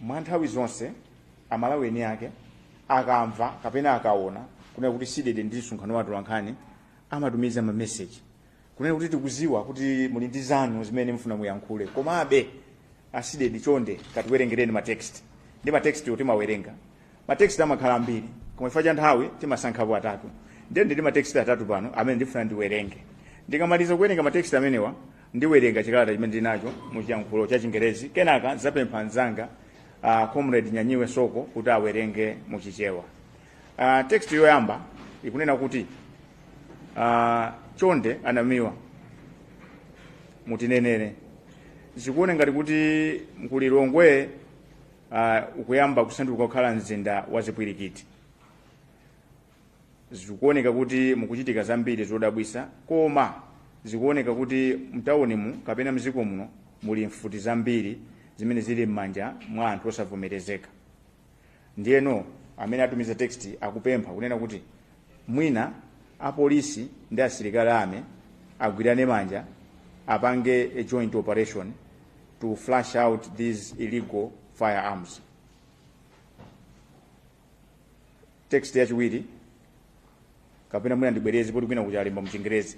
mwa nthawi zonse aMalawi eni ake akamva kapena akaona kunena kuti CDEDI ndi msonkhano wa atolankhani amatumiza mameseji kunena kuti tikuziwa kuti muli ndi zanu zimene mufuna muyankhule komabe a CDEDI chonde katiwerengereni matext ndi matext oti mawerenga matext amakhala ambiri koma chifukwa cha nthawi timasankhapo atatu ndiye ndili matext atatu pano amene ndifuna ndiwerenge ndikamaliza kuwerenga matext amenewa ndiwerenga chikalata chimene ndinacho mu chiyankhulo cha chingerezi kenaka ndidzapempha anzanga uh, comrade nyanyiwe soko kuti awerenge mu chichewa uh, text yoyamba ikunena kuti uh, chonde a Namiwa mutinenere zikuone ngati kuti mu Lilongwe uh, ukuyamba kusanduka kukhala mzinda wa zipwirikiti zikuoneka kuti mukuchitika zambiri zodabwisa koma zikuoneka kuti mtawunimu kapena mdziko muno muli mfuti zambiri zimene zili m'manja mwa anthu osavomerezeka ndiyeno amene atumiza text akupempha kunena kuti Mwina apolisi ndi asilikali army agwirane manja apange a joint operation to flush out these illegal firearms. Text yachiwiri kapena mwina ndibwereze poti kwina kuti alemba mchingerezi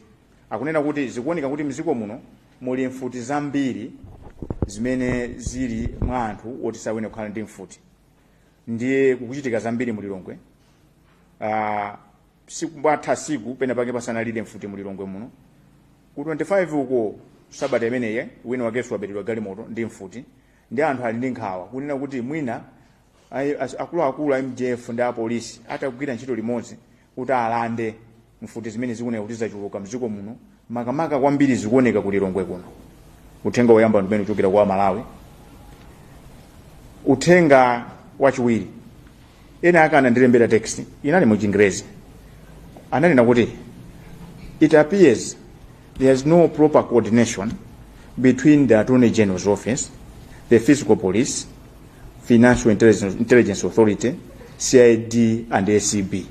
akunena kuti zikuoneka kuti mziko muno muli mfuti zambiri zimene zili mwa anthu oti sayenera kukhala ndi mfuti ndiye kukuchitika zambiri mu lilongwe uh, sikumatha tsiku pena pake pasanalire mfuti mu lilongwe muno ku 25 uko sabata imeneye wina wakenso waberedwa galimoto ndi mfuti ndi anthu ali ndi nkhawa kunena kuti mwina ai- as- akuluakulu a mdf ndi apolisi atagwira ntchito limodzi kuti alande mfuti zimene zikuoneka kuti zachuluka mdziko muno makamaka kwambiri zikuoneka ku Lilongwe kuno. Uthenga woyamba ndi umene uchokera kwa Amalawi. Uthenga wachiwiri ena ake anandilembera text inali mu Chingerezi ananena kuti it appears There is no proper coordination between the Attorney General's office, the Fiscal Police, Financial Intelligence, Intelligence Authority, CID and ACB.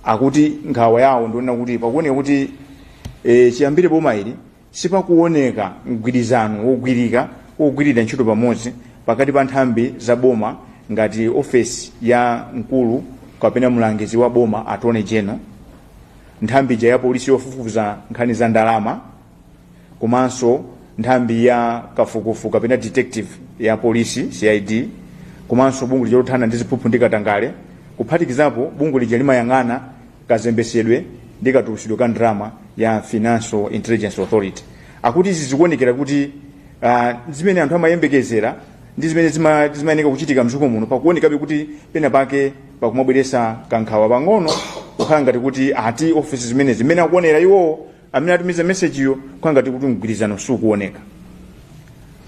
Akuti nkhawa yawo ndi yonena kuti pakuoneka kuti eh, chiyambire boma ili Sipakuwoneka mgwirizano wogwirika wogwirira ntchito pamodzi pakati pa nthambi za boma ngati ofesi ya mkulu kapena mlangizi wa boma, Attorney General, nthambi ija ya polisi yofufuza nkhani za ndalama komanso nthambi ya kafukufuku kapena detective ya polisi, CID, komanso bungwe lija lothana ndi ziphuphu ndi katangale kuphatikizapo bungwe lija limayang'ana kazembesedwe ndi katulusidwe ka ndalama ya financial intelligence authority akuti izi zikuonekera kuti uh, zimene anthu amayembekezera ndi zimene zima- zimayeneka kuchitika mdziko muno pakuonekabe kuti pena pake pakumabweresa kankhawa pang'ono kukhala ngati kuti ati ofesi zimene zimene akuonera iwowo amene atumiza mesejiyo kukhala ngati kuti mgwirizano sukuoneka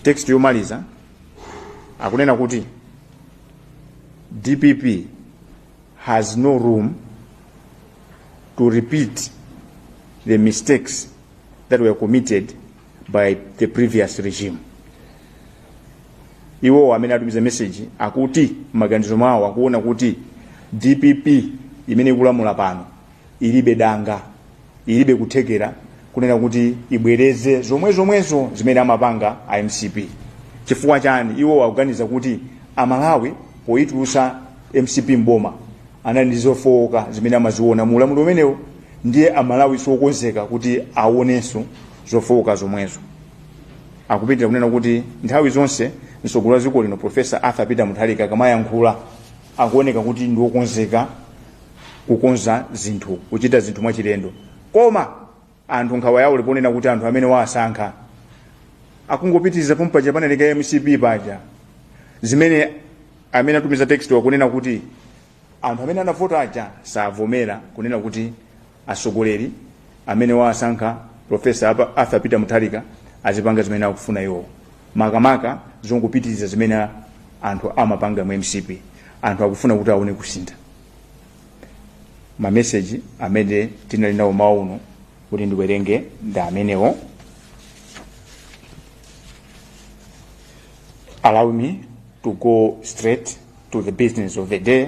text yomaliza akunena kuti dpp has no room to repeat the mistakes that were committed by the previous regime iwowo amene atumiza meseji akuti m'maganizo mwawo akuona kuti dpp imene ikulamula pano ilibe danga ilibe kuthekera kunena kuti ibwereze zomwe zomwezo zimene amapanga a mcp chifukwa chani iwo akuganiza kuti amalawi poyitulusa mcp mboma anali ndi zofowoka zimene amaziona mu ulamuliro umenewo ndiye amalawi siokonzeka kuti aonenso zofowoka zomwezo akupitiriza kunena kuti nthawi zonse mtsogoleri wa dziko lino profesa arthur peter mutharika akamayankhula akuoneka kuti ndi wokonzeka kukonza zinthu kuchita zinthu mwachilendo koma anthu nkhawa yawo ili ponena kuti anthu amene wawasankha akungopitiriza pompaja panalekera mcp paja zimene amene atumiza textwa akunena kuti anthu amene anavota aja savomera kunena kuti atsogoleri amene wawasankha professor arthur peter mutharika azipanga zimene akufuna iwowo makamaka zongopitiriza zimene anthu amapanga mu mcp anthu akufuna kuti aone kusintha mameseji amene tinali nawo mmawa uno kuti ndiwerenge ndi amenewo allow me to go straight to the business of the day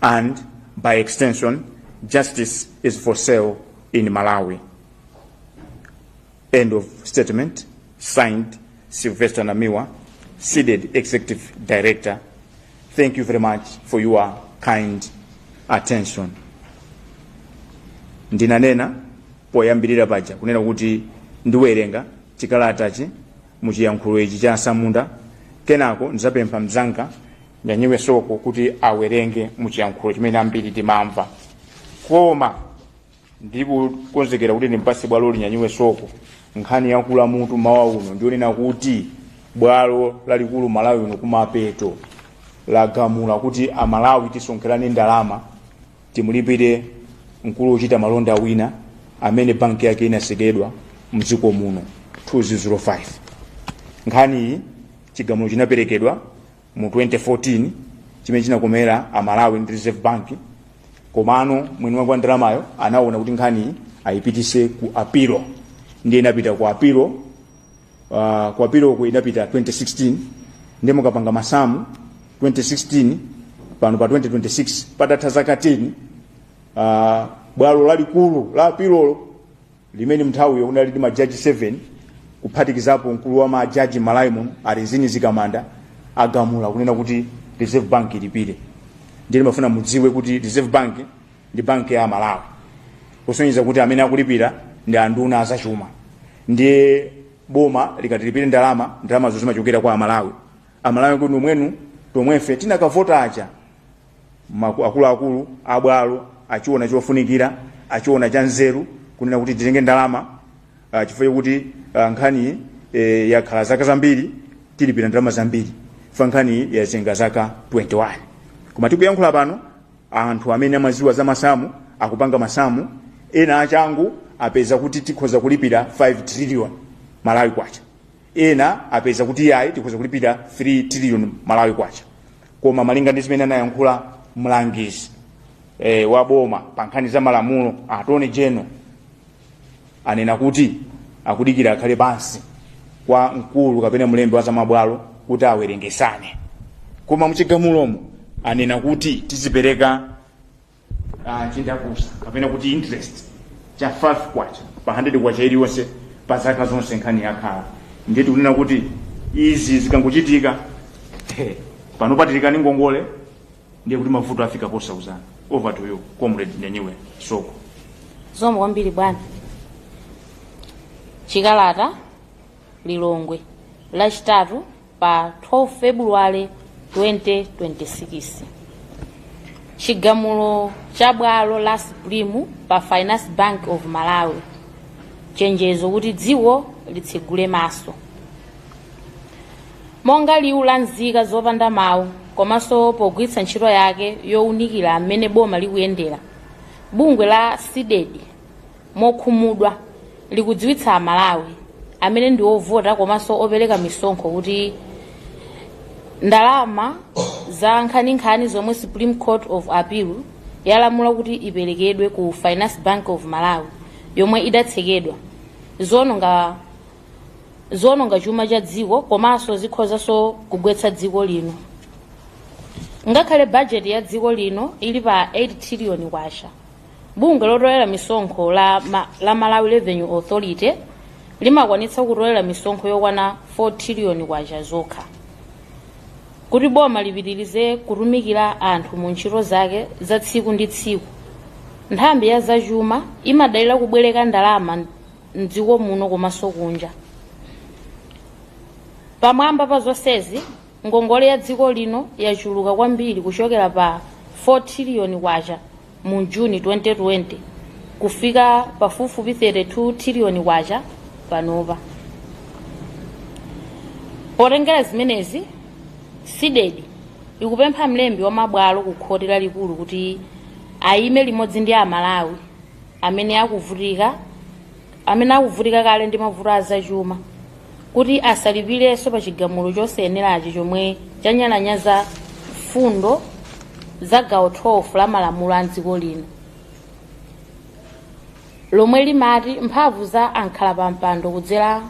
and by extension justice is for sale in malawi end of statement signed sylvester namiwa cdedi executive director thank you very much for your kind attention ndinanena poyambirira paja kunena kuti ndiwerenga chikalatachi muchiyankhulo ichi cha atsamunda kenako ndizapempha mzanga nyanyiwe soko kuti awerenge muchiyankhulo chimene ambiri timamva koma ndikukonzekera kuti ndimpase bwalo nyanyiwe soko nkhani yakula mutu mmawa uno ndi yonena kuti bwalo lalikulu m'malawi muno kumapeto lagamula kuti amalawi tisonkherane ndalama timulipire mkulu wochita malonda wina amene banki yake inasekedwa mdziko muno 2005 nkhaniyi chigamulo chinaperekedwa mu 2014 chimene chinakomera amalawi ndi reserve bank komano mwini wake wa ndalamayo anaona kuti nkhaniyi ayipitise ku apilo ndiye inapita ku apilo uh, ku apiloku inapita 2016 ndiye mukapanga masamu 2016 pano pa 2026 patatha zaka 10 uh, bwalo lalikulu la apilolo limene mnthawiyo munali ndi majaji 7 kuphatikizapo mkulu wa majaji m'malawi muno a rizine mzikamanda agamula kunena kuti reserve bank ilipire ndiye ndimafuna mudziwe kuti reserve bank ndi banki ya malawi kusonyeza kuti amene akulipira ndi anduna azachuma ndiye boma likati lilipire ndalama ndalamazo zimachokera kwa amalawi amalawi kuti nomwenu tomwefe tinakavota aja maku- akuluakulu abwalo achiona chofunikira achiona cha nzeru kunena kuti titenge ndalama ah, chifukwa chakuti ah, nkhaniyi eh, yakhala zaka zambiri tilipira ndalama zambiri fa nkhaniyi yazenga zaka 21 koma tikuyankhula pano anthu amene amaziwa za masamu akupanga masamu ena achangu apeza kuti tikhoza kulipira 5 trillion malawi kwacha ena apeza kuti yayi tikhoza kulipira 3 trillion malawi kwacha koma malinga ndi zimene anayankhula mlangizi e, wa boma pa nkhani za malamulo attorney general anena kuti akudikira akhale pansi kwa mkulu kapena mlembi wa zamabwalo kuti awerengesane koma mchigamulomo anena kuti tizipereka uh, chindapusa kapena kuti interest cha 5 kwacha pa 100 kwacha iliyonse pa zaka zonse nkhani yakhala ndiye tikunena kuti izi zikangochitika panopa tili kale ndi ngongole ndiye kuti mavuto afika posauzana over to you comrade nyanyiwe soko zikomo kwambiri bwana chikalata Lilongwe, Lachitatu pa 12 February 2026. Chigamulo cha bwalo la Supreme pa Finance Bank of Malawi, chenjezo kuti dziko litsegule maso. Monga liwu la nzika zopanda mawu komanso pogwiritsa ntchito yake yowunikira mmene boma likuyendera, bungwe la CDEDI mokhumudwa likudziwitsa Amalawi amene ndi ovota komanso opereka misonkho kuti ndalama za nkhaninkhani zomwe Supreme Court of Appeal yalamula kuti iperekedwe ku Finance Bank of Malawi yomwe idatsekedwa ziononga chuma cha dziko komanso zikhozanso kugwetsa dziko lino ngakhale bajeti ya dziko lino ili pa 8 triliyoni kwacha bungwe lotolera misonkho la malawi revenue authority limakwanitsa kutolera misonkho yokwana 4 triliyoni kwacha zokha kuti boma lipitirize kutumikira anthu mu ntchito zake za tsiku ndi tsiku nthambi ya zachuma imadalira kubwereka ndalama mdziko muno komanso kunja pamwamba pa zonsezi ngongole ya dziko lino yachuluka kwambiri kuchokera pa 4 triliyoni kwacha mu juni 2020 kufika pafupifupi 32 triliyoni kwacha panopa potengera zimenezi cdedi ikupempha mlembi wa mabwalo ku khoti lalikulu kuti ayime limodzi ndi amalawi amene akuvutika amene akuvutika kale ndi mavuto a zachuma kuti asalipirenso pa chigamulo chosayenerachi chomwe chanyalanyaza mfundo za gawo 12 la malamulo a dziko lino lomwe limati mphamvu za ankhala pa mpando kudzera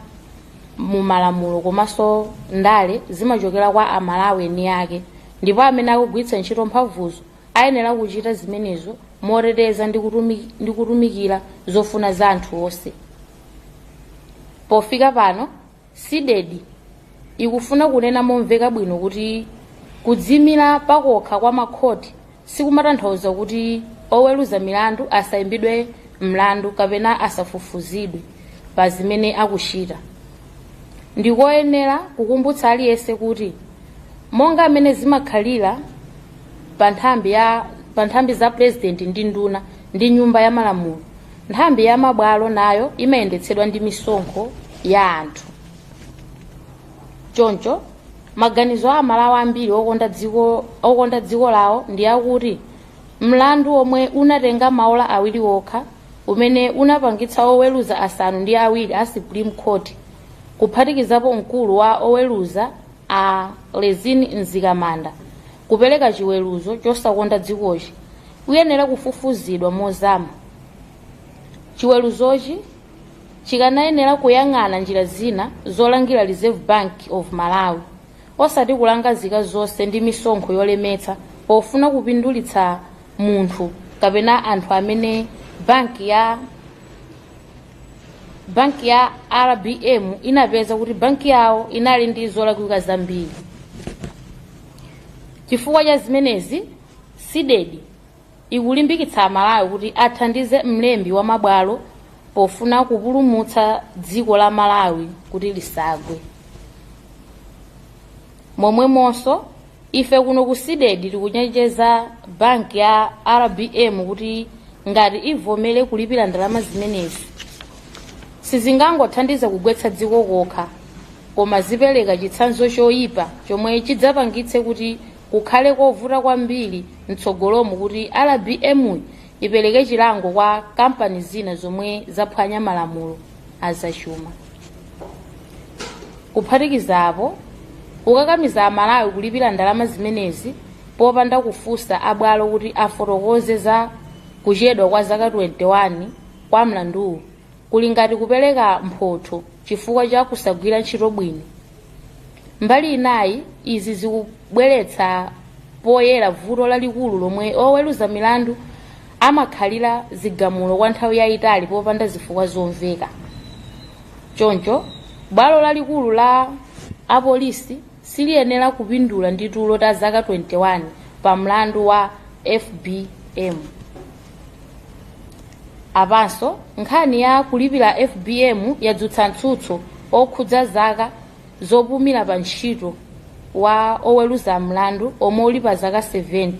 mu malamulo komanso ndale zimachokera kwa amalawi eni ake ndipo amene akugwiritsa ntchito mphamvuzo Ayenera kuchita zimenezo moteteza ndi kutumikira zofuna za anthu onse. Pofika pano, CDEDI ikufuna kunena momveka bwino kuti kudziimira pakokha kwa makhoti sikumatanthauza kuti oweruza milandu asaimbidwe mlandu kapena asafufuzidwe pa zimene akuchita. Ndikoyenera kukumbutsa aliyense kuti Monga mmene zimakhalira pa nthambi za pulezidenti ndi nduna ndi Nyumba ya Malamulo, nthambi ya mabwalo nayo imayendetsedwa ndi misonkho ya anthu. Choncho, maganizo a Amalawi ambiri okonda dziko lawo ndi akuti mlandu womwe unatenga maola awiri okha umene unapangitsa oweruza asanu ndi awiri a Supreme Court kuphatikizapo mkulu wa oweruza a rizine mzikamanda kupereka chiweruzo chosakonda dzikochi uyenera kufufuzidwa mozama chiweruzochi chikanayenera kuyang'ana njira zina zolangira reserve bank of malawi osati kulanga nzika zonse ndi misonkho yolemetsa pofuna kupindulitsa munthu kapena anthu amene banki ya banki ya rbm inapeza kuti banki yawo inali ndi zolakwika zambiri chifukwa cha zimenezi cdedi ikulimbikitsa amalawi kuti athandize mlembi wa mabwalo pofuna kupulumutsa dziko la malawi kuti lisagwe momwemonso ife kuno ku CDEDI tikuchenjeza banki ya rbm kuti ngati ivomere kulipira ndalama zimenezi sizingangothandiza kugwetsa dziko kokha koma zipereka chitsanzo choyipa chomwe chidzapangitse kuti kukhale kovuta kwambiri mtsogolomu kuti rbm ipereke chilango kwa kampani zina zomwe zaphwanya malamulo azachuma kuphatikizapo kukakamiza amalawi kulipira ndalama zimenezi popanda kufunsa abwalo kuti afotokoze za kuchedwa kwa zaka 21 kwa mlanduwu kuli ngati kupereka mphotho chifukwa cha kusagwira ntchito bwino mbali inayi izi zikubweretsa poyera vuto lalikulu lomwe oweruza milandu amakhalira zigamulo kwa nthawi yayitali popanda zifukwa zomveka. Choncho, bwalo lalikulu la apilo siliyenera kupindula ndi tulo ta zaka 21 pa mlandu wa FBM. Apanso, nkhani ya kulipira FBM yadzutsa mtsutso okhudza zaka zopumira pa ntchito wa oweruza mlandu omwe uli pa zaka 70.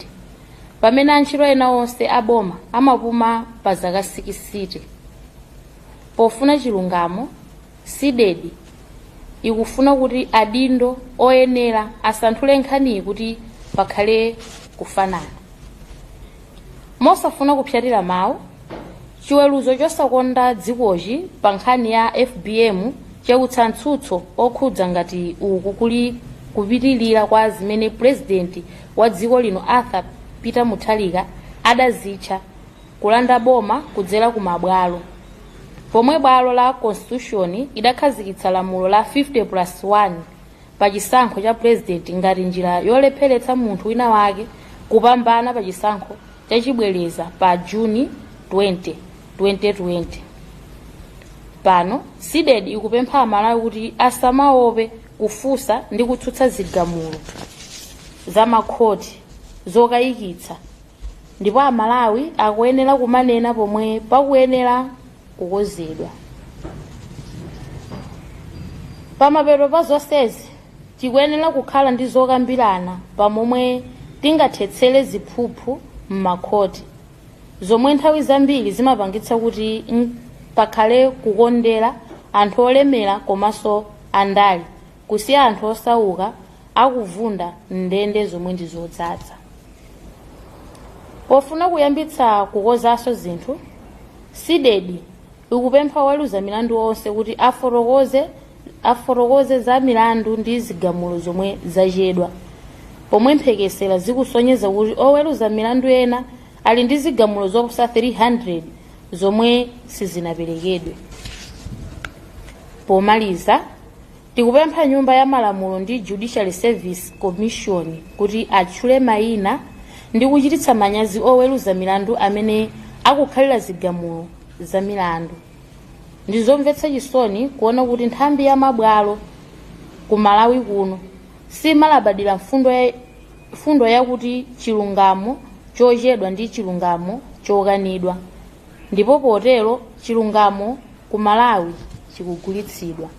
pamene antchito ena onse aboma amapuma pa zaka sikisite pofuna chilungamo CDEDI ikufuna kuti adindo oyenera asanthule nkhaniyi kuti pakhale kufanana mosafuna kupsyatira mawu chiweruzo chosakonda dzikochi pa nkhani ya fbm chautsa mtsutso okhudza ngati uku kuli kupitilira kwa zimene purezidenti wa dziko lino Arthur Peter Mutharika adazitcha kulanda boma kudzera ku mabwalo pomwe bwalo la Constitution idakhazikitsa lamulo la 50 plus 1 pa chisankho cha purezidenti ngati njira yolepheretsa munthu wina wake kupambana pa chisankho cha chibwereza pa Juni 20, 2020. Pano, CDEDI ikupempha Amalawi kuti asamaope kufunsa ndi kutsutsa zigamulo za makhoti zokayikitsa ndipo amalawi akuyenera kumanena pomwe pakuyenera kukonzedwa pamapeto pa zonsezi tikuyenera kukhala ndi zokambirana pa momwe tingathetsere ziphuphu m'makhoti zomwe nthawi zambiri zimapangitsa kuti pakhale kukondera anthu olemera komanso andale kusiya anthu osauka akuvunda m'ndende zomwe ndi zodzadza. Pofuna kuyambitsa kukonzanso zinthu, Cdedi ikupempha oweruza milandu onse kuti afotokoze za milandu ndi zigamulo zomwe zachedwa, pomwe mphekesera zikusonyeza kuti oweruza milandu ena ali ndi zigamulo zoposa 300 zomwe sizinaperekedwe. Pomaliza, tikupempha Nyumba ya Malamulo ndi Judicial Service Commission kuti atchule mayina ndi kuchititsa manyazi oweruza milandu amene akukhalira zigamulo za milandu. Ndi zomvetsa chisoni kuona kuti nthambi ya mabwalo ku Malawi kuno simalabadira mfundo ya Mfundo yakuti chilungamo chochedwa ndi chilungamo chokanidwa ndipo potero chilungamo ku Malawi chikugulitsidwa.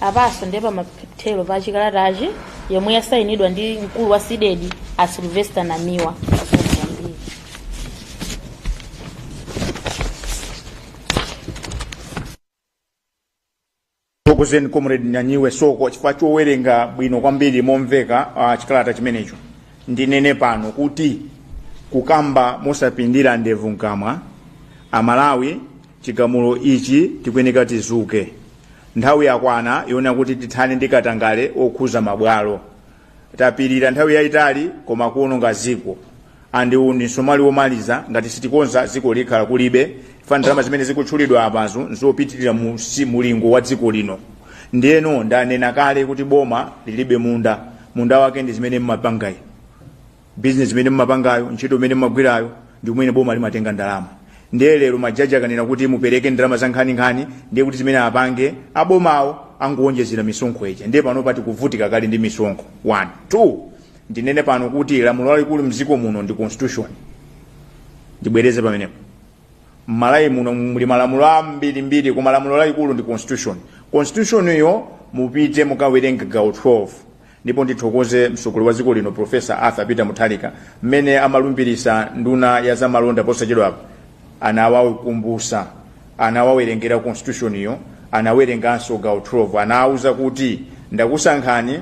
Apanso ndi pamathero pa chikalatachi yomwe yasayinidwa ndi mkulu wa Cdedi a Sylvester Namiwa. Ndithokoze Comrade Nyanyiwe Soko chifukwa chowerenga bwino kwambiri momveka uh, chikalata chimenecho. Ndinene pano kuti kukamba mosapindira ndevu mkamwa Amalawi chigamulo ichi tikuyeneka tidzuke. Nthawi yakwana yoona kuti tithane ndi katangale okhuza mabwalo. tapirira nthawi yaitali koma kuononga dziko and uwu ndi msomali womaliza ngati sitikonza dziko likhala kulibe chifukwa ndalama zimene zikutchulidwa apazo nzopitirira mulingo wa dziko lino ndiyeno ndanena kale kuti boma lilibe munda munda wake ndi zimene mmapangayi bizinesi imene mumapangayo ntchito imene mumagwirayo ndi mmene boma limatenga ndalama ndiye lero majaji akanena kuti mupereke ndalama za nkhaninkhani ndiye kuti zimene apange abomawo angowonjezera misonkho ija ndiye pano pa tikuvutika kale ndi misonkho one two ndinene pano kuti lamulo lalikulu mdziko muno ndi constitution ndibwereze pamenepo m'Malawi muno muli malamulo ambirimbiri koma lamulo lalikulu ndi constitution constitution iyo mupite mukawerenge gawo 12 Ndipo ndithokoze mtsogoleri wa dziko lino Professor Arthur Peter Mutharika mmene amalumbirisa nduna ya za malonda posachedwapa anawakumbutsa anawawerengera constitution yo anawerenganso gawo 12 anawuza kuti ndakusankhani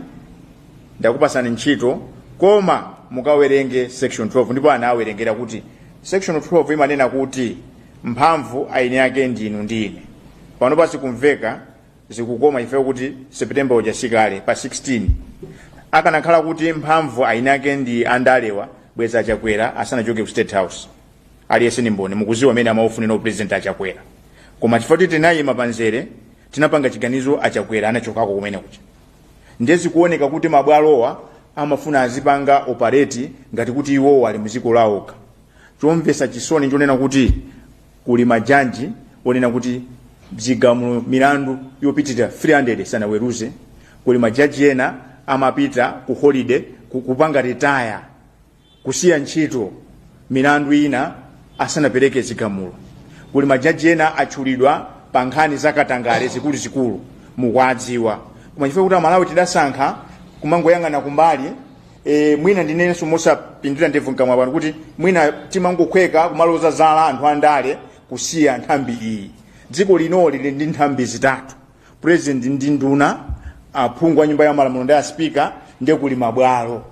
ndakupatsani ntchito koma mukawerenge section 12 ndipo anawerengera kuti section 12 imanena kuti mphamvu eni ake ndinu ndine pano pa sikumveka zikukoma chifukwa kuti september uja si kale pa 16 akanakhala kuti mphamvu eni ake ndi andalewa bwezi achakwera asanachoke ku state house aliyense ni mboni mukuziwa amene amaufunira upresident achakwera koma chifukwa kuti tinayima panzere tinapanga chiganizo achakwera anachokako kumene kuja ndiye zikuoneka kuti mabwalowo amafuna azipanga operate ngati kuti iwowo ali muziko lawokha chomvesa chisoni nchonena kuti Kuli majaji onena kuti zigamulo milandu yopitira 300 sanaweruze. Kuli majaji ena amapita ku holiday ku- kupanga retire kusiya ntchito milandu ina asanapereke zigamulo. Kuli majaji ena atchulidwa pa nkhani za katangale zikuluzikulu mukuwadziwa. Koma chifukwa kuti Amalawi tidasankha kumangoyang'ana kumbali E, mwina ndinenso mosapindira ndevu mkamwa pano kuti mwina timangokhweka kumaloza zala anthu andale kusiya nthambi iyi dziko linoli lili ndi nthambi zitatu president ndi nduna aphungu a nyumba ya malamulo ndi aspika ndiye kuli mabwalo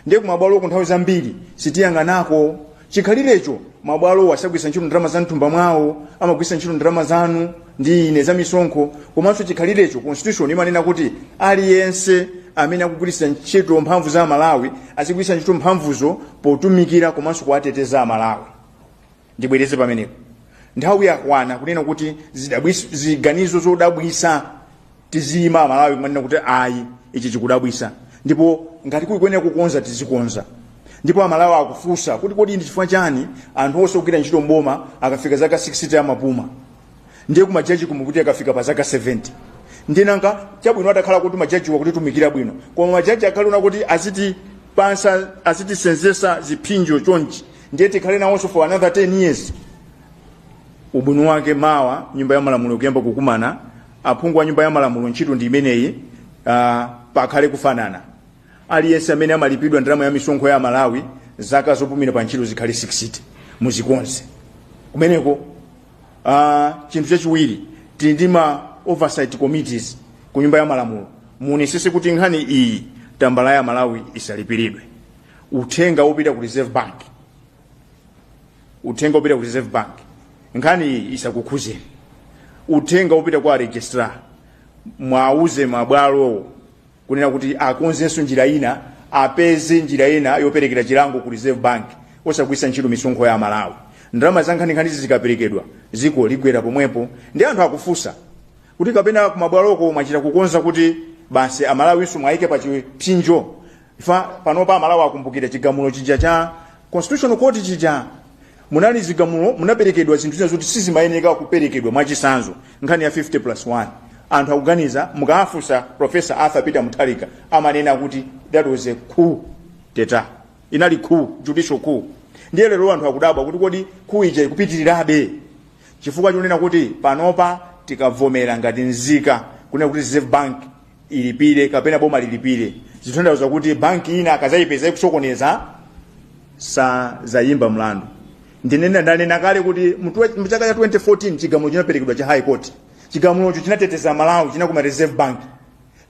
ndiye kumabwaloku nthawi zambiri sitiyang'anako chikhalirecho mabwalowo sagwiritsa ntchito ndalama za mthumba mwawo amagwiritsa ntchito ndalama zanu ndi ine za misonkho komanso chikhalirecho constitution imanena kuti aliyense amene akugwiritsa ntchito mphamvu za amalawi azigwiritsa ntchito mphamvuzo potumikira komanso kuwateteza amalawi ndibwereze pamenepo nthawi yakwana kunena kuti zidabwis- ziganizo zodabwisa tiziyima amalawi kumanena kuti ayi ichi chikudabwisa ndipo ngati kukuyenera kukonza tizikonza ndipo amalawi akufunsa kuti kodi ndi chifukwa chani anthu onse ogwira ntchito mboma akafika zaka 60 amapuma ndiye kumajaji kumene kuti akafika pa zaka 70 ndiye nanga chabwino atakhala kuti majajiwo akutitumikira bwino koma majaji akhale onena kuti aziti pansa azitisenzesa ziphinjo chonchi ndiye tikhale nawonso for another 10 years ubwino wake mawa nyumba ya malamulo ikuyamba kukumana aphungu a nyumba ya malamulo ntchito ndi imeneyi uh, pakhale kufanana aliyense amene amalipidwa ndalama ya misonkho ya amalawi zaka zopumira pa ntchito zikhale 60 muzikonze kumeneko uh, chinthu chachiwiri tili ndi ma oversight committees ku nyumba ya malamulo muonesese kuti nkhani iyi tambala ya amalawi isalipiridwe uthenga wopita ku reserve bank uthenga wopita ku reserve bank nkhani iyi isakukhuzeni uthenga wopita kwa registrar mwauze mabwalowo kunena kuti akonzenso njira ina apeze njira ina yoperekera chilango ku reserve bank osagwiritsa ntchito misonkho ya amalawi ndalama zankhaninkhanizi zikaperekedwa dziko ligwera pomwepo ndiye anthu akufunsa kuti kapena kumabwaloko mwachita kukonza kuti basi amalawinso mwayike pa chipsinjo chifukwa panopa amalawi akumbukira chigamulo chija cha constitutional court chija munali zigamulo munaperekedwa zinthu zina zoti sizimayeneka kuperekedwa mwachisanzo nkhani ya 50 plus 1 anthu akuganiza mukafunsa professor arthur peter mutharika amanena kuti that was a coup d'etat inali coup judicial coup ndiye lero anthu akudabwa kuti kodi coup ija ikupitirirabe chifukwa chonena kuti panopa tikavomera ngati nzika kunena kuti reserve bank ilipire kapena boma lilipire zithandauza kuti banki ina akazayipeza ikusokoneza sazayimba mlandu ndinena ndanena kale kuti mchaka cha 2014 chigamulo chinaperekedwa cha high court chigamulocho chinateteza malawi chinakomera reserve bank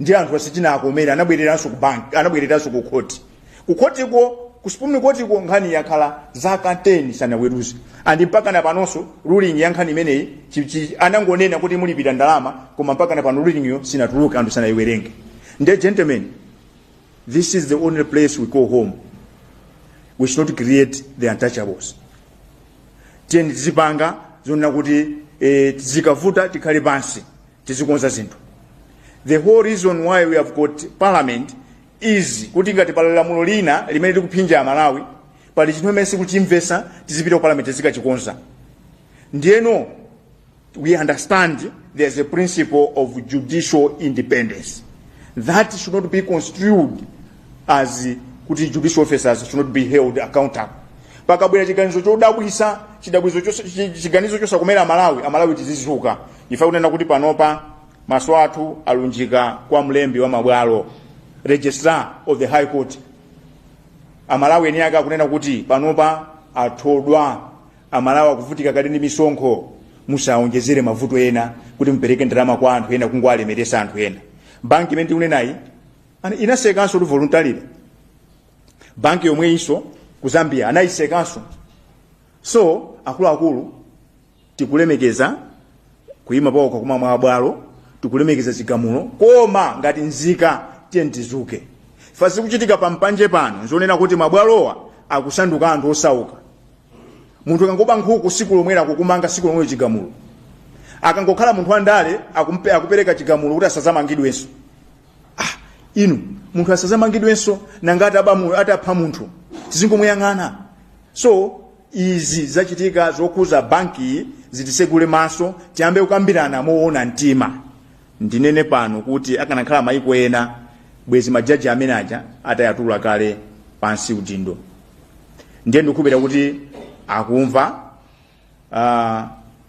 ndi anthu asichinaakomere anabwereranso ku bank anabwereranso ku court kukhotiko ku supreme court ko nkhani yakhala zaka 10 sanaweruze and mpaka na panonso ruling ya nkhani imeneyi chi- chi- anangonena kuti mulipira ndalama koma mpaka na pano ruling yo sinatuluke anthu sanayiwerenge nde gentlemen this is the only place we call home we should not create the untouchables tiyeni tizipanga zonena kuti eh, zikavuta tikhale pansi tizikonza zinthu the whole reason why we have got parliament is kuti ngati pali lamulo lina limene likuphinja amalawi pali chinthu chimene sikuchimvesa tizipita ku parliament tizikachikonza ndiyeno we understand there's a principle of judicial independence that should not be construed as kuti judicial officers should not be held accountable pakabwera chiganizo chodabwisa chidabwizo chiganizo chosakomera amalawi amalawi tizizuka ife kunena kuti panopa maso athu alunjika kwa mlembi wa mabwalo registrar of the high court amalawi eni ake akunena kuti panopa athodwa amalawi akuvutika kale ndi misonkho musawonjezere mavuto ena kuti mupereke ndalama kwa anthu ena kungowalemeresa anthu ena banki imene tikunenayi ana- inasekanso kuti voluntarily banki yomweyinso ku zambia anayisekanso so akuluakulu tikulemekeza kuyima pawokha kwa mabwalo tikulemekeza chigamulo koma ngati nzika tiyeni tizuke fa zikuchitika pampanje pano nzonena kuti mabwalowa akusanduka anthu osauka munthu akangoba nkhuku siku lomwelo akukumanga siku lomwe chigamulo akangokhala munthu wandale akumpe akupereka chigamulo kuti asazamangidwenso ah inu munthu asazamangidwenso nanga atapha munthu tizingomuyang'ana so izi zachitika zokhuza bankiyi zitisegule maso tiyambe kukambirana mowona mtima ndinene pano kuti akanakhala maiko ena bwezi majaji amene aja atayatula kale pansi udindo ndiye ndikukhulupirira kuti akumva uh,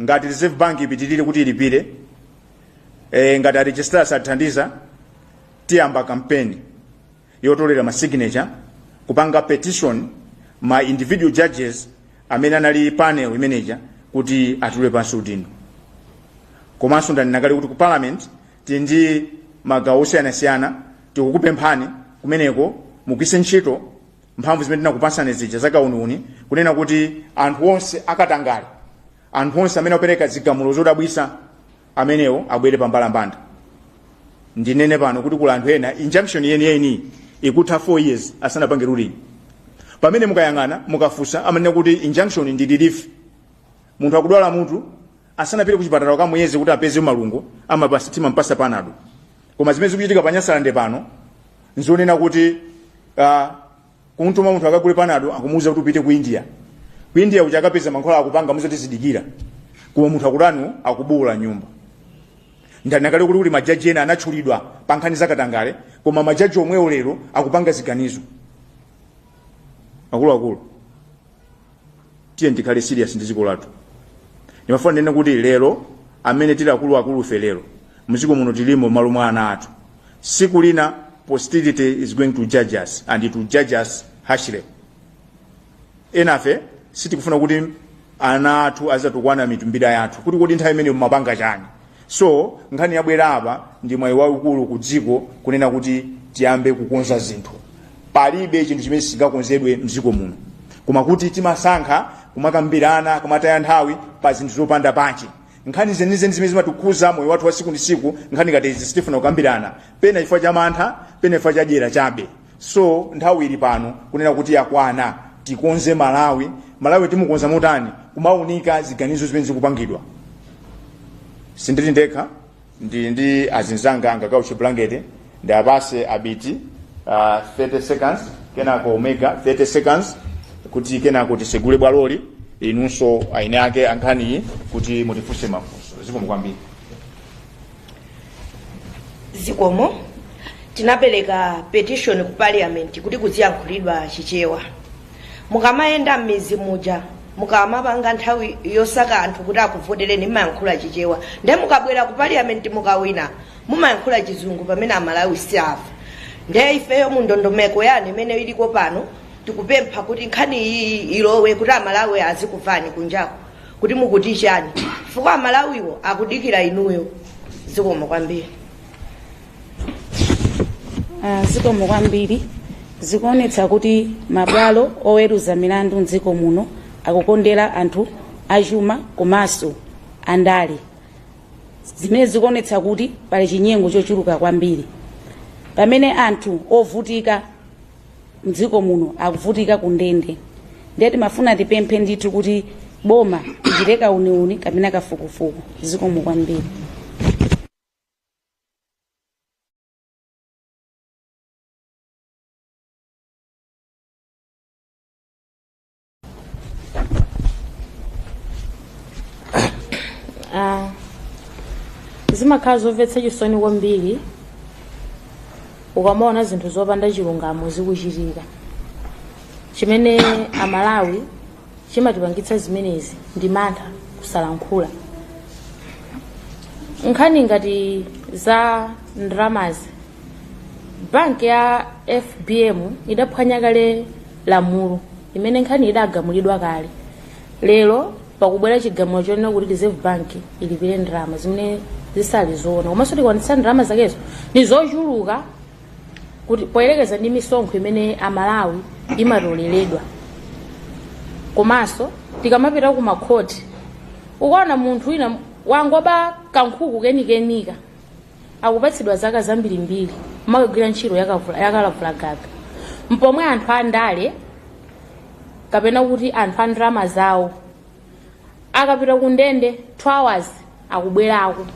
ngati reserve bank ipitilire kuti ilipire e, ngati a registrar sathandiza tiyamba kampeni yotolera ma signature kupanga petition ma individual judges amene anali panel imeneja kuti atule pansi udindo komanso ndanena kale kuti ku parliament tili ndi magawo osiyanasiyana tikukupemphani kumeneko mugwiritse ntchito mphamvu zimene tinakupatsani zija zakauniuni kunena kuti anthu onse akatangale anthu onse amene apereka zigamulo zodabwisa amenewo abwere pambalambanda ndinene pano kuti kula anthu ena injunction yeniyeni ikutha 4 years asanapange ruling pamene mukayang'ana mukafunsa amanena kuti injunction ndi relief munthu akudwala mutu asanapite kuchipatala kukamuyeza kuti apeze malungo amayamba timampasa panado koma zimene zikuchitika pa nyasalande pano nzonena kuti uh, kumtuma munthu akagule panado akumuuza kuti upite ku india ku india uja akapeza mankhwala akupangamuuza tizidikira koma munthu akudwala akubuula m'nyumba ndanena kale kuti majaji ena anatchulidwa pa nkhani zakatangale koma majaji omwewo lero akupanga ziganizo akuluakulu tiyeni tikhale serious ndi dziko lathu ndimafuna ndinene kuti lero amene tili akuluakulufe lero mdziko muno tilimo malo mwa ana athu siku lina posterity is going to judge us and it will judge us harshly enafe sitikufuna kuti ana athu azatukwane mitumbira yathu kuti kodi nthawi imene mumapanga chani so nkhani yabwera apa ndi mwayi waukulu ku dziko kunena kuti tiyambe kukonza zinthu palibe chinthu chimene sichingakonzedwe mdziko muno koma kuti timasankha kumakambirana kumataya nthawi pa zinthu zopanda pake nkhani zenizeni zimene zimatikhuza moyo wathu wa siku ndi siku nkhani ngati izi sitifuna kukambirana pena chifukwa cha mantha pena chifukwa cha dyera chabe so nthawi ili pano kunena kuti yakwana tikonze malawi malawi timukonza motani kumaunika ziganizo zimene zikupangidwa sindili ndekha ndili ndi azinzanga angakhale chibulangete ndiwapase abiti uh, 30 seconds kenako omega 30 seconds kuti kenako tisegule bwaloli inunso aeni ake ankhaniyi kuti mutifunse mafunso zikomo kwambiri zikomo tinapereka petition ku parliament kuti kuziyankhulidwa chichewa mukamayenda m'mizi muja mukamapanga nthawi yosaka anthu kuti akuvotereni mumayankhula chichewa nde mukabwera ku parliament mukawina mumayankhula chizungu pamene amalawi sakumva nde ifeyo mu ndondomeko yanu imene iliko pano tikupempha kuti nkhani iyi ilowe kuti amalawi azikumvani kunjako kuti mukuti chani chifukwa amalawiwo akudikira inuyo zikomo kwambiri Ah, zikomo kwambiri zikuonetsa kuti mabwalo oweruza milandu mdziko muno akukondera anthu achuma komanso andale zimene zikuonetsa kuti pali chinyengo chochuluka kwambiri pamene anthu ovutika mdziko muno akuvutika ku ndende ndiye timafuna tipemphe ndithu kuti boma lichite kauniuni kapena kafukufuku zikomo kwambiri Ah, zimakhala zomvetsa chisoni kwambiri ukamaona zinthu zopanda chilungamo zikuchitika chimene amalawi chimatipangitsa zimenezi ndi mantha kusalankhula nkhani ngati za ndramazi Banki ya FBM idaphwanya kale lamulo imene nkhani idagamulidwa kale. Lero pakubwera chigamulo chonena kuti Reserve Bank ilipire ndrama zimene zisali zoona. Komanso tikaonetsetsa ndrama zakezo ni zochuluka kuti poyerekeza ndi misonkho imene Amalawi imatoleredwa. Komanso tikamapita ku makhoti ukaona munthu wina wangoba kankhuku kenikenika akupatsidwa zaka zambirimbiri kumakagwira ntchito yakavula- yakalavulagaga mpomwe anthu andale kapena kuti anthu a ndrama zawo akapita ku ndende 2 hours akubwerako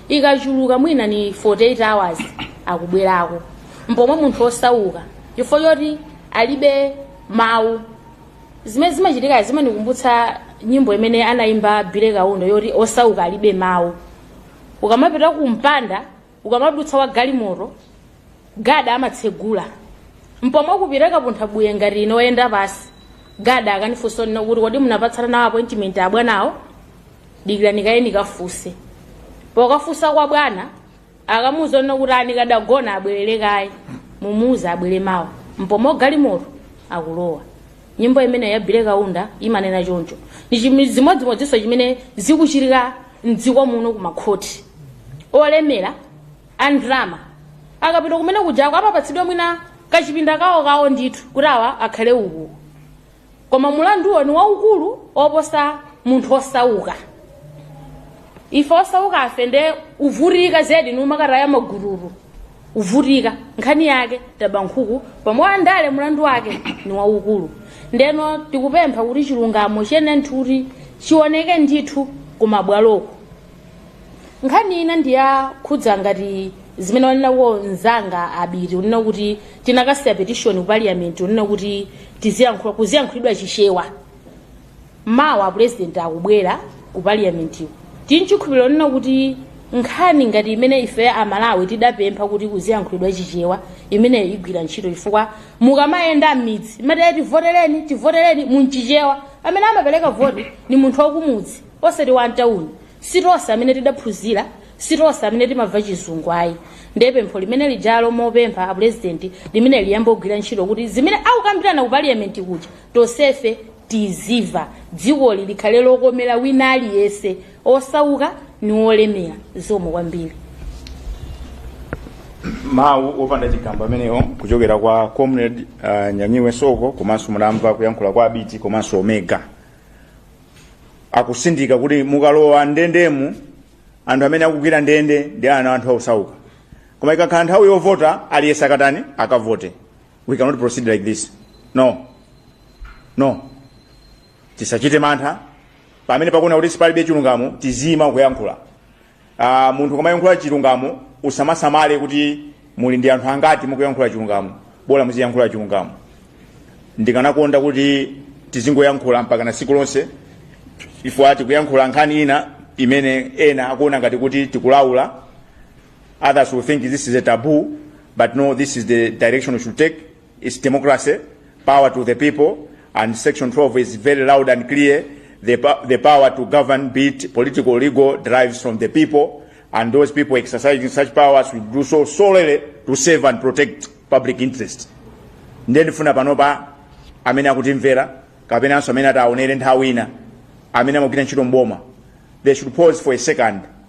ikachuluka mwina ni 48 hours akubwerako mpomwe munthu osauka chifukwa choti alibe mawu zimene zimachitika zimanikumbutsa nyimbo imene anayimba Billy Kaunda yoti osauka alibe mawu ukamapita ku mpanda ukamadutsa wa galimoto gada amatsegula mpomwe ukapita kapunthabuye ngati ine oyenda pansi gada akanifunsa kunena kuti kodi munapatsana nawo appointment abwanawo dikirani kaye nikafunse pokafunsa kwa bwana akamuuza kunena kuti anikadagona abwerere kaye mumuuze abwere mawa mpomwe wa galimoto akulowa nyimbo imene ya Billy Kaunda imanena choncho ni chimi- zimodzimodzinso chimene zikuchitika mdziko muno ku makhoti olemera a ndrama akapita kumene kujako amapatsidwa mwina kachipinda kawo kawo ndithu kuti awa akhale uku koma mulanduwo ni waukulu oposa munthu osauka ife osaukafe nde kuvutika zedi ni kumakataya magururu kuvutika nkhani yake ndi yaba nkhuku pamwe andale mulandu wake ni waukulu ndeno tikupempha kuti chilungamo chenicheni kuti chioneke ndithu kumabwaloko nkhani ina ndiyakhudza ngati zimene wanenako mzanga Abiti kunena kuti tinakasiya petition ku parliament kunena kuti tiziyankhula kuziyankhulidwa chichewa Mawa apulezidenti akubwera ku paliamentiku. Tili nchikhulupiriro chonena kuti nkhani ngati imene ife Amalawi tidapempha kuti kuziyankhulidwa Chichewa imeneyo igwira ntchito chifukwa mukamayenda m'midzi mumati tivotereni, tivotereni mu Chichewa. Amene amapereka voti ndi munthu wakumudzi osati wamtauni. Si tonse amene tidaphunzira, si tonse amene timamva Chizungu ayi. Ndiye pempho limene lijalo mopempha apulezidenti limeneli liyambe kugwira ntchito kuti zimene akukambirana ku paliamenti kuja Tonsefe tizimva dzikoli likhale lokomera wina aliyense osauka ni wolemera zikomo kwambiri. mawu opanda chigamba amenewo kuchokera kwa comrade uh, Nyamiwe Soko komanso munamva kuyankhula kwa abiti komanso omega akutsindika kuti mukalowa ndendemu anthu amene akugwira ndende ndi ana a anthu osauka koma ikakhala nthawi yovota aliyense akatani akavote we cannot proceed like this no no tisachite mantha pamene tikuona kuti palibe chilungamo tiziima kuyankhula uh, munthu ukamayankhula chilungamo usamasamale kuti muli ndi anthu angati mukuyankhula chilungamo bola muziyankhula chilungamo ndikanakonda kuti tizingoyankhula mpakana tsiku lonse ife tikuyankhula nkhani ina imene ena akuona ngati kuti tikulaula Others will think this is a taboo, but no, this is the direction we should take. It's democracy, power to the people, and Section 12 is very loud and clear. The, po- the power to govern, be it political or legal, derives from the people, and those people exercising such powers will do so solely to save and protect public interest. ndiye ndifuna panopa amene akutimvera kapenanso amene ataonere nthawi ina amene amagwira ntchito mboma they should pause for a second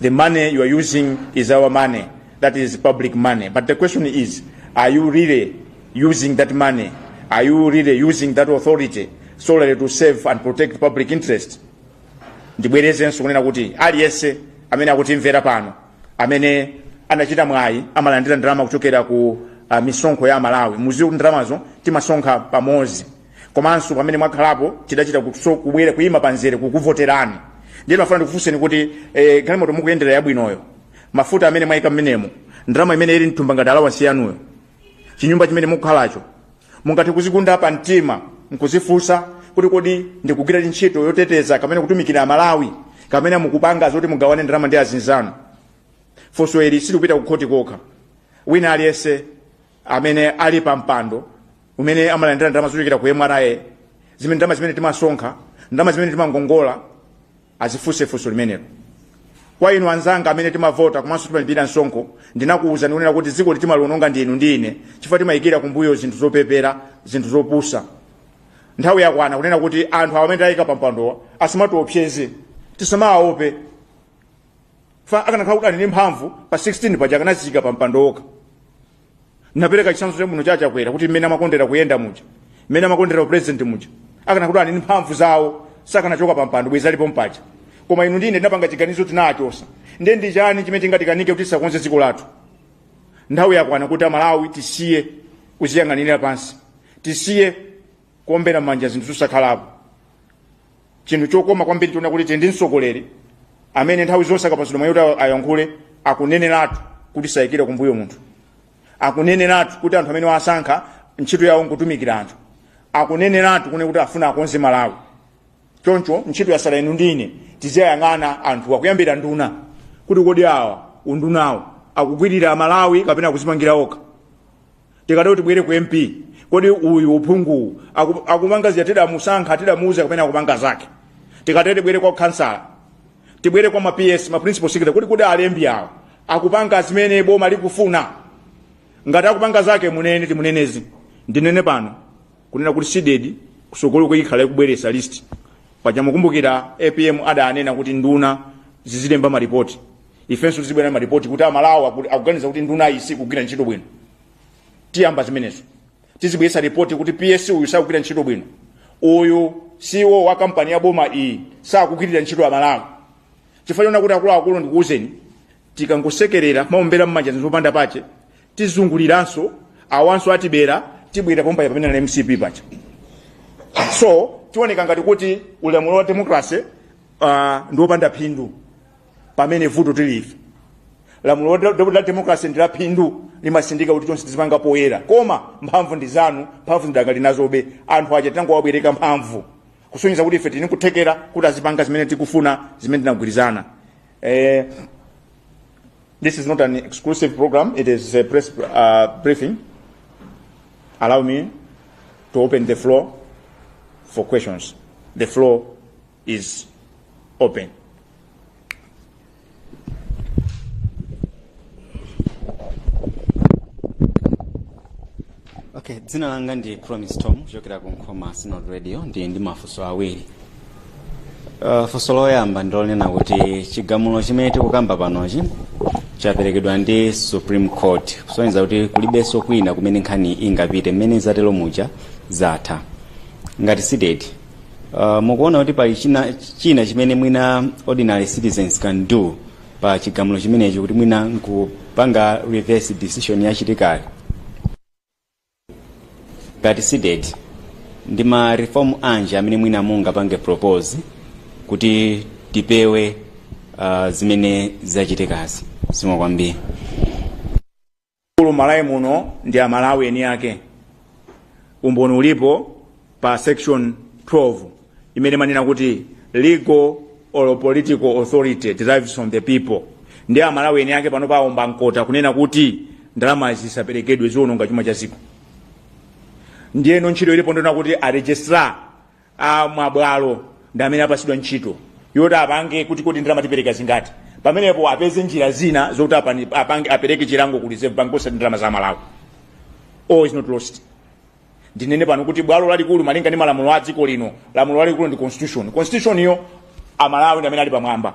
The money you are using is our money. That is public money. But the question is, are you really using that money? Are you really using that authority solely to serve and protect public interest? ndibwerezenso kunena kuti aliyense amene akutimvera pano amene anachita mwayi amalandira ndalama kuchokera ku uh, misonkho ya Amalawi mudziwe kuti ndalamazo timasonkha pamodzi komanso pamene mwakhalapo tidachita kubwera kuyima pamzere kukuvoterani ndiye ndimafuna ndikufunseni kuti eh, galimoto mukuyendera yabwinoyo mafuta amene mwayika mmenemo ndalama imene ili mthumba ngati alawansi yanuyo chinyumba chimene mukukhalacho mungathe kudziguguda pa mtima nkudzifunsa kuti kodi ndikugwira ntchito yoteteza kapena kutumikira amalawi kapena mukupanga zoti mugawane ndalama ndi azinzanu funso ili silikupita kukhoti kokha wina aliyense amene ali pa mpando umene amalandira ndalama zochokera ku mra zimene ndalama zimene timasonkha ndalama zimene timangongola azifunse funso limenelo kwa inu anzanga amene timavota komanso timalipira msonkho ndinakuwuzani kunena kuti dzikoli timaliononga ndi inu ndi ine chifukwa timayikira kumbuyo zinthu zopepera zinthu zopusa nthawi yakwana kunena kuti anthu awa amene tayika pampandowa asamatiopseze tisamawaope chifukwa akanakhala kuti ali ndi mphamvu pa 16 paja akanaziyika pampando okha ndipereka chitsanzo chabwino cha Chakwera kuti mmene amakondera kuyenda muja mmene amakondera upresident muja akanakhala kuti ali ndi mphamvu zawo sakanachoka pa mpando bwezi alipo pompaja koma inu ndi ine tinapanga chiganizo tinawachosa ndiye ndi chani chimene chingatikanike kuti tisakonze dziko lathu nthawi yakwana kuti amalawi tisiye kuziyang'anira pansi tisiye kuombera manja zinthu zosakhalapo chinthu chokoma kwambiri nchonena kuti tili ndi mtsogoleri amene nthawi zonse akapatsidwa mwayi kuti ayankhule akuneneratu kuti sayikira kumbuyo munthu akuneneratu kuti anthu amene wasankha ntchito yawo nkutumikira anthu akuneneratu kunena kuti afuna akonze malawi choncho ntchito yasala inu ndi ine tiziwayang'ana anthu kuyambira nduna kuti kodi awa undunawo akugwirira malawi kapena akuzipangira okha tikatero tibwere ku mp kodi uyu uphunguwu aku- akupanga zija tidamusankha tidamuuza kapena akupanga zake tikatero tibwere kwa khansala tibwere kwa ma ps ma principal secretary kuti kodi alembi awa akupanga zimene boma likufuna ngati akupanga zake timunene timunene ndinene pano kunena kuti CDEDI kusogolo kuno izikhala ikubweresa list paja mukumbukira apm adanena kuti nduna zizilemba maripoti ifenso tizibwera ndi malipoti kuti amalawi aku- akuganiza kuti nduna iyi sikugwira ntchito bwino tiyamba zimenezo tizibweretsa ripoti kuti ps uyu sakugwira ntchito bwino uyu CEO wa kampani ya boma iyi sakugwirira ntchito amalawi chifukwa choona kuti akuluakulu ndikuwuzeni tikangosekerera kumaombera mmanja zinthu zopanda pake tizunguliranso awanso atibera tibwera pompa pamene inali mcp paja so zioneka ngati kuti ulamuliro wa demokrasi uh, ndiwopanda phindu pamene vuto ndi ife lamulo la- la la democracy ndi la phindu limasindika kuti chonse tizipanga poyera koma mphamvu ndi zathu mphamvu tidakali nazobe anthu aja tinangowabwereka mphamvu kusonyeza kuti ife tili ndi kuthekera kuti azipanga zimene tikufuna zimene tinagwirizana eh, this is not an exclusive program it is a press uh, briefing allow me to open the floor for questions the floor is open. Okay, dzina langa ndi Promise Tom kuchokera ku Nkhoma Synod Radio ndi ndi mafunso awiri. Uh, funso loyamba ndilonena kuti chigamulo chimene tikukamba panochi chaperekedwa ndi Supreme Court kusonyeza kuti kulibenso kwina kumene nkhani ingapite mmene zatero muja zatha ngati CDEDI Uh, mukuona kuti pali china, china chimene mwina ordinary citizens can do pa chigamulo chimenechi kuti mwina nkupanga reverse decision yachitikayo ngati CDEDI ndi ma reform anji amene mwina mungapange propose kuti tipewe uh, zimene zachitikazi zikomo kwambiri Akulu Malawi muno ndi a Malawi eni ake. Umboni ulipo pa section 12 imene imanena kuti legal or political authority derives from the people. Ndi a Malawi eni ake pano paomba mkota kunena kuti ndalama zisaperekedwe ziononga chuma cha dziko. Ndiyeno ntchito ilipo ndonena kuti a registrar a mabwalo ndi amene apatsidwa ntchito yoti apange kuti kodi ndalama tipereka zingati pamenepo apeze njira zina zokuti apani- apange apereke chilango ku reserve bank osati ndalama za a Malawi all is not lost ndinene pano kuti bwalo lalikulu malinga ndi malamulo a dziko lino lamulo lalikulu ndi constitution constitution yo amalawi ndi amene ali pamwamba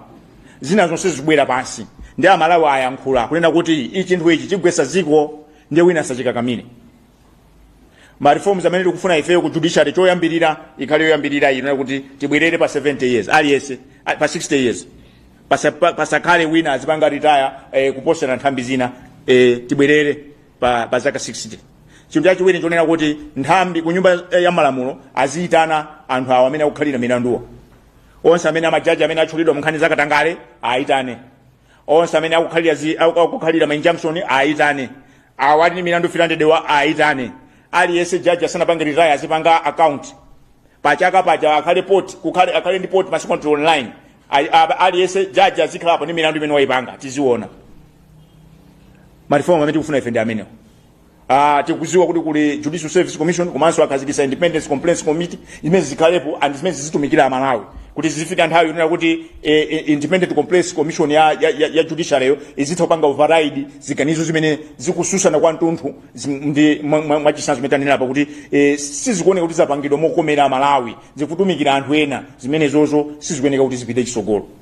zina zonse zikubwera pansi ndi amalawi ayankhula kunena kuti ichi chinthu ichi chigwesa dziko ndiye wina sachikakamire ma reforms amene tikufuna ifeyo ku judiciary choyambirira ikhale yoyambirira ino kuti tibwerere pa 70 years aliyense a- pa 60 years Pasa- pa- pasakhale wina azipanga retire eh, kuposera nthambi zina eh, tibwerere pa, pa zaka 60 chinthu chachiwiri nchonena kuti nthambi ku nyumba eh, ya malamulo aziyitana anthu awo amene akukhalira milanduwa onse amene amajaji amene atchulidwa mu nkhani zakatangale ayitane onse amene akukhalira zi- aku- akukhalira ma injunction ayitane awa ali ndi milandu 300 wa ayitane aliyense jaji asanapange retire azipanga account pachaka pachaka akhale port- pakhale akhale ndi portal masiku ano online Ali- a- aliyense jaji azikhalapo ndi milandu imene wayipanga tiziona ma reform amene tikufuna ife ndi amenewo Ah, tikuziwa kuti kuli Judicial Service Commission komanso akhazikisa Independent Complaints Committee imene zikhalepo and zimene zizitumikira amalawi kuti zizifika nthawi yonena kuti eh, eh, Independent Complaints Commission ya, ya, ya, ya judiciary yo izitha kupanga override ziganizo zimene zikususana kwamtunthu zim- ndi mwa- mwa- mwachisanzo zimene tanenera pakuti eh, sizikuoneka kuti zapangidwa mokomera amalawi zikutumikira anthu ena zimenezozo sizikuoneka kuti zipite chisogolo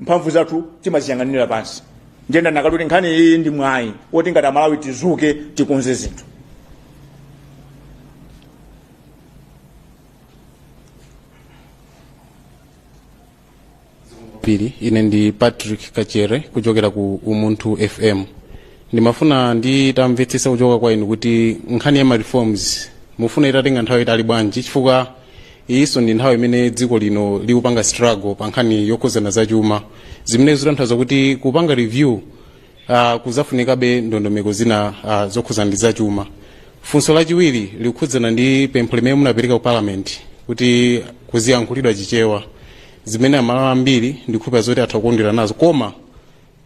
mphamvu zathu timaziyang'anira pansi ndiye ndanakati kuti nkhani iyi ndi mwayi woti ngati amalawi tizuke tikonze zinthu pili ine ndi patrick kachere kuchokera ku umunthu fm ndimafuna nditamvetsesa kuchoka kwa inu kuti nkhani ya ma reforms mufuna itatenga nthawi itali bwanji chifukwa iyinso ndi nthawi imene dziko lino likupanga struggle pa nkhani yokhuzana za chuma zimene zikutanthauza kuti kupanga review uh, kuzafunikabe ndondomeko zina uh, zokhuzana ndi za chuma funso lachiwiri likukhudzana ndi pempho limene munapereka ku parliament kuti kuziyankhulidwa chichewa zimene amalawi ambiri ndikhulupira zoti atha kukondwera nazo koma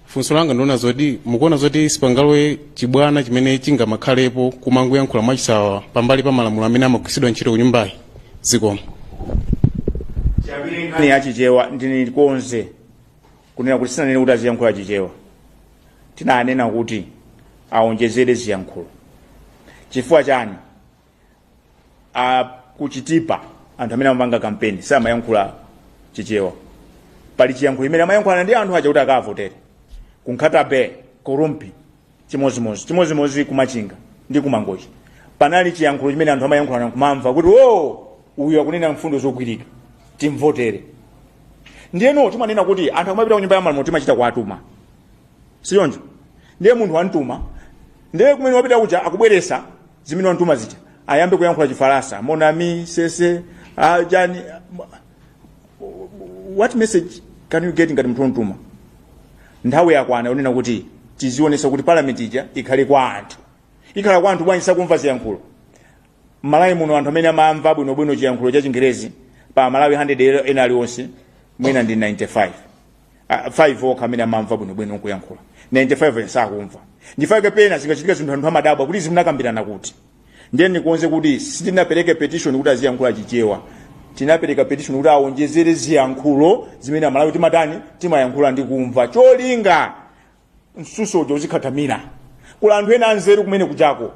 funso langa ndi lonena zoti mukuona zoti sipangalowe chibwana chimene chingamakhalepo kumangoyankhula mwachisawawa pambali pa malamulo amene amagwiritsidwa ntchito ku nyumbayi zikomo nkhani ya chichewa ndiikonze kunena kuti sinanene kuti aziyankhula chichewa tinanena kuti aonjezere ziyankhulo chifukwa chani a kuchitipa anthu amene amapanga kampeni samayankhula chichewa pali chiyankhulo chimene amayankhulana ndi anthu aja kuti akavotere kunkhata bay kurumphi chimozimozi chimozimozi kumachinga ndi kumangochi panali chiyankhulo chimene anthu amayankhulana kumamva kuti o uyu akunena mfundo zogwirika timvotere ndiyeno timanena kuti anthu akamapita kunyumba ya malamulo timachita kuwatuma si choncho ndiye munthu wantuma ndiye kumene wapita kuja akubweresa zimene wantuma zija ayambe kuyankhula chifaransa monami sese ah, jani what message can you get ngati munthu wontuma nthawi yakwana yonena kuti tizionesa kuti parliament ija ikhale kwa anthu ikhala kwa anthu bwanji sakumva ziyankhulo malawi muno anthu amene amamva bwinobwino chiyankhulo cha chingerezi pa amalawi 100 ena aliwonse mwina ndi 95 Ah, 5 okha amene amamva bwinobwino nkuyankhula 95 ena sakumva nchifukwa chake pena zikachitika zinthu anthu amadabwa kuti izi munakambirana kuti ndiye ndikonze kuti sitinapereke petition kuti aziyankhula chichewa tinapereka petition kuti awonjezere ziyankhulo zimene amalawi timatani timayankhula ndi kumva cholinga msuso uja uzikhathamira kuli anthu ena anzeru kumene kunjako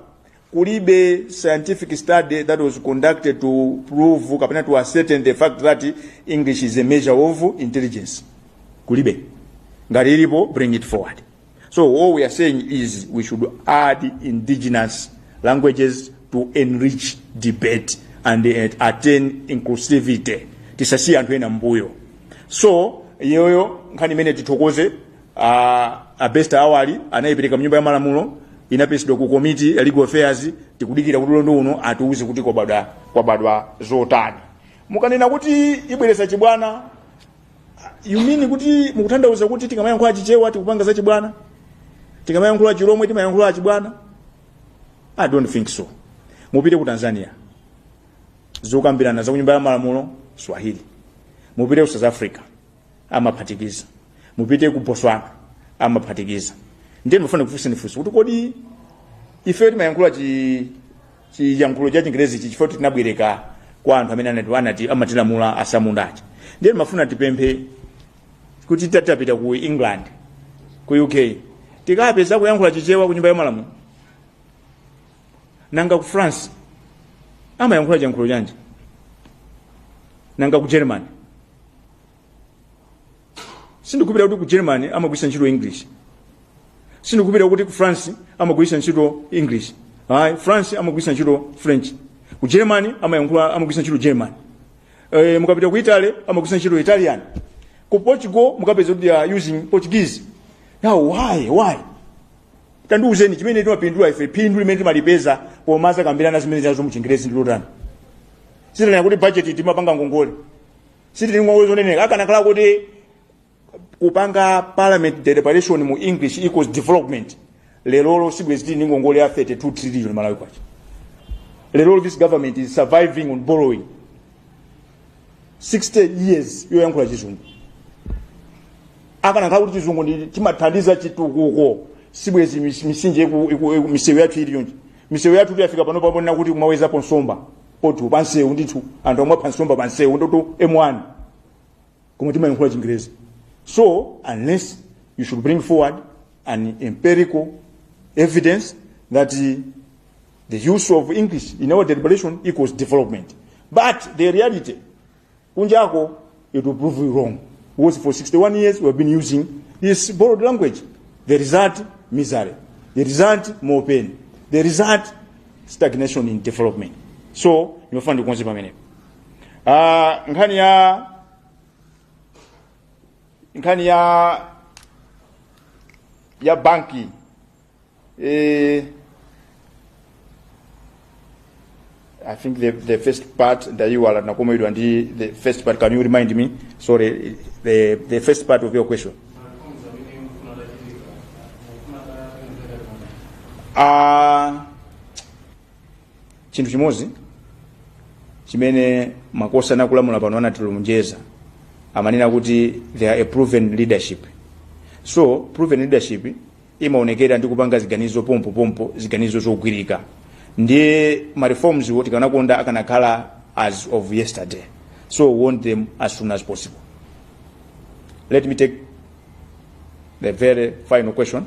kulibe scientific study that was conducted to prove kapena to ascertain the fact that english is a measure of intelligence kulibe ngati ilipo bring it forward so all we are saying is we should add indigenous languages to enrich debate and uh, attain inclusivity tisasiye anthu ena mbuyo so iyoyo nkhani imene tithokoze a, a best awali anayipereka mnyumba ya malamulo inaperekedwa ku komiti ya legal affairs tikudikira kuti ulendo uno atiuze kuti kwabadwa kwabadwa zotani mukanena kuti ibweretsa chibwana you mean kuti mukutanthauza kuti tikamayankhula chichewa tikupanga za chibwana tikamayankhula chilomwe timayankhula chibwana i don't think so mupite ku tanzania zokambirana za kunyumba ya malamulo swahili mupite ku south africa amaphatikiza mupite ku botswana amaphatikiza ndiye ndimafuna kufunsani funso kuti kodi ife timayankhula chi chiyankhulo cha chingerezi chi chifukwa tinabwereka kwa anthu amene anati anati amatilamula atsamundachi ndiye ndimafuna tipemphe kuti tatapita ku england ku uk tikapeza akuyankhula chichewa ku nyumba ya malamulo nanga ku france amayankhula chiyankhulo chanji nanga ku germany sindikupita kuti ku germany amagwiritsa ntchito english sindikupita kuti ku france amagwiritsa ntchito english ayi france amagwiritsa ntchito french ku germany amayankhula amagwiritsa ntchito german eh, mukapita ku italy amagwiritsa ntchito italian ku portugal mukapeza kuti they are using portuguese now why why tandiuzeni chimene timapindula ife phindu limene timalipeza pomakambirana zimenezizo muchingerezi ndilotani sitinena kuti budget timapanga ngongole sitili ngongole zoneneka akanakhala kuti kupanga parliament deliberation mu english equals development lerolo sibwezi tili ndi ngongole ya 32 trillion malawi kwacha lerolo this government is surviving on borrowing 60 years yoyankhula chizungu akanakhala kuti chizungu chimathandiza chitukuko sibwezi mis- misinje iku- iku- iku- misewu yathu iliyonse misewu yathu itafika pano paponena kuti kumawezapo nsomba potu pansewu ndithu anthu amapha nsomba pansewu ndithu m1 koma timayankhula chingerezi so unless you should bring forward an empirical evidence that uh, the use of english in our deliberation equals development but the reality kunjako it will prove you wrong because for 61 years we have been using this borrowed language the result misery the result more pain the result stagnation in development so ndimafuna ndikonze pamenepo uh, nkhani ya nkhani ya ya banki Eh, I think the, the first part ndayiwala nakomedwa ndi the first part can you remind me sorry the, the first part of your question Ah, chinthu chimodzi chimene makosana akulamula pano anatilonjeza amanena kuti they are a proven leadership so proven leadership imaonekera ndi kupanga ziganizo pompo pompo ziganizo zogwirika ndiye ma reforms wo tikanakonda akanakhala as of yesterday so we want them as soon as possible let me take the very final question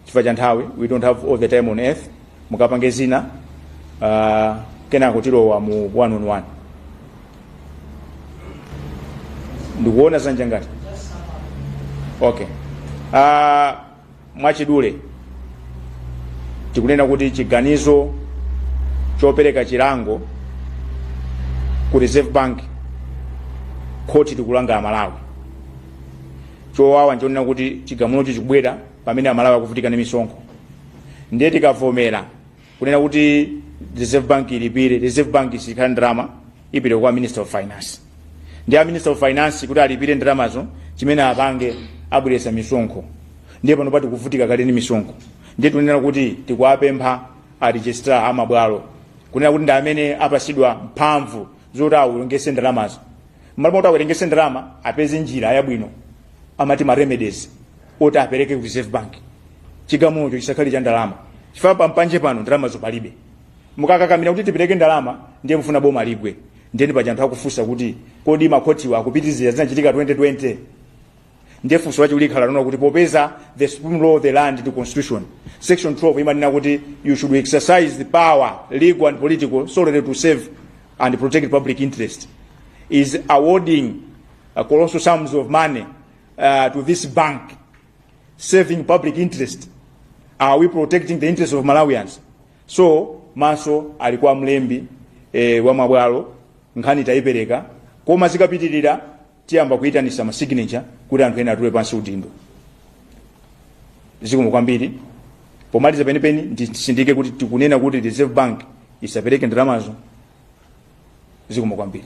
chifukwa cha nthawi we don't have all the time on earth mukapange zina uh, kenako tilowa mu one on one ndikuona zanja ngati okay uh, mwachidule tikunena kuti chiganizo chopereka chilango ku reserve bank khoti likulanga amalawi chowawa nchonena kuti chigamulocho chikubwera pamene amalawi akuvutika ndi misonkho ndiye tikavomera kunena kuti reserve bank ilipire reserve bank sikhala ndalama ipite kwa minister of finance ndiye a minister of finance kuti alipire ndalamazo chimene apange abweretsa misonkho ndiye panopa tikuvutika kale ndi misonkho ndiye tunena kuti tikuwapempha a registrar a mabwalo kunena kuti ndi amene apasidwa mphamvu zoti awerengese ndalamazo mmalo moti awerengese ndalama apeze njira yabwino amati ma remedies oti apereke ku reserve bank chigamulocho chisakhale cha ndalama chifukwa pampanje pamo ndalamazo palibe mukakakamira kuti tipereke ndalama ndiye mufuna boma ligwe ndiyeni paja anthu akufunsa kuti kodi makhotiwa akupitiriza zinachitika 2020 ndiye funso lathu likhala lonena kuti popeza the supreme law of the land ndi constitution section 12 imanena kuti you should exercise the power legal and political solely to serve and protect public interest is awarding uh, colossal sums of money uh, to this bank serving public interest are we protecting the interest of malawians so maso ali kwa mlembi eh, wa mabwalo nkhani tayipereka koma zikapitirira tiyamba kuyitanisa ma signature kuti anthu ena atule pansi udindo zikomo kwambiri pomaliza penipeni ndisindike kuti tikunena kuti reserve bank isapereke ndalamazo zikomo kwambiri